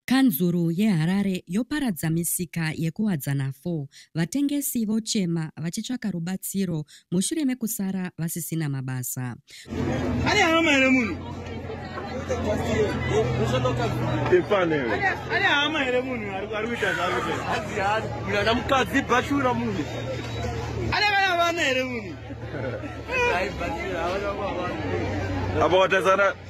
Kanzuru yeHarare yoparadza misika yeKuwadzana 4, vatengesi vochema vachitsvaka rubatsiro mushure mekusara vasisina mabasa. Ane hama here munhu? Ane hama here munhu ari kuita zvaari kuita? Mukadzi bhachura munhu. Ane vana vana here munhu? Apa watarisana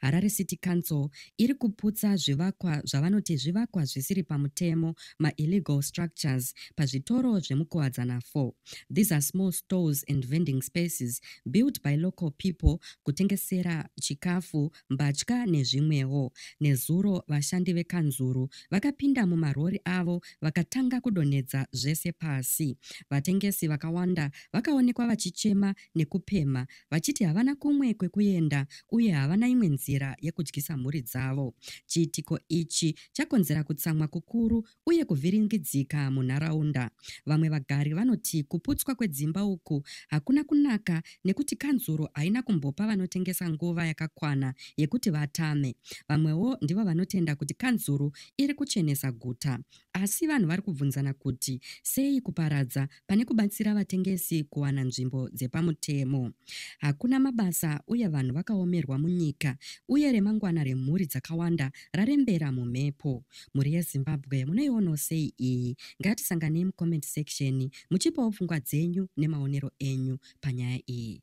Harare City Council iri kuputsa zvivakwa zvavanoti zvivakwa zvisiri pamutemo, maillegal structures, pazvitoro zvemuKuwadzana 4. These are small stores and vending spaces built by local people kutengesera chikafu, mbatya nezvimwewo. Nezuro vashandi vekanzuru vakapinda mumarori avo vakatanga kudonhedza zvese pasi. Vatengesi vakawanda vakaonekwa vachichema nekupemha vachiti havana kumwe kwekuenda uye havana imwe nzira yekudyisa mhuri dzavo. Chiitiko ichi chakonzera kutsamwa kukuru uye kuvhiringidzika munharaunda. Vamwe vagari vanoti kuputswa kwedzimba uku hakuna kunaka nekuti kanzuru haina kumbopa vanotengesa nguva yakakwana yekuti vatame. Vamwewo ndivo vanotenda kuti kanzuru iri kuchenesa guta. Asi vanhu vari kubvunzana kuti sei kuparadza pane kubatsira vatengesi kuwana nzvimbo dzepamutemo. Hakuna mabasa uye vanhu vakaomerwa munyika uye remangwana remhuri dzakawanda rarembera mumhepo. Mhuri yeZimbabwe munoionawo sei iyi? Ngatisanganei mucomment section muchipawo pfungwa dzenyu nemaonero enyu panyaya iyi.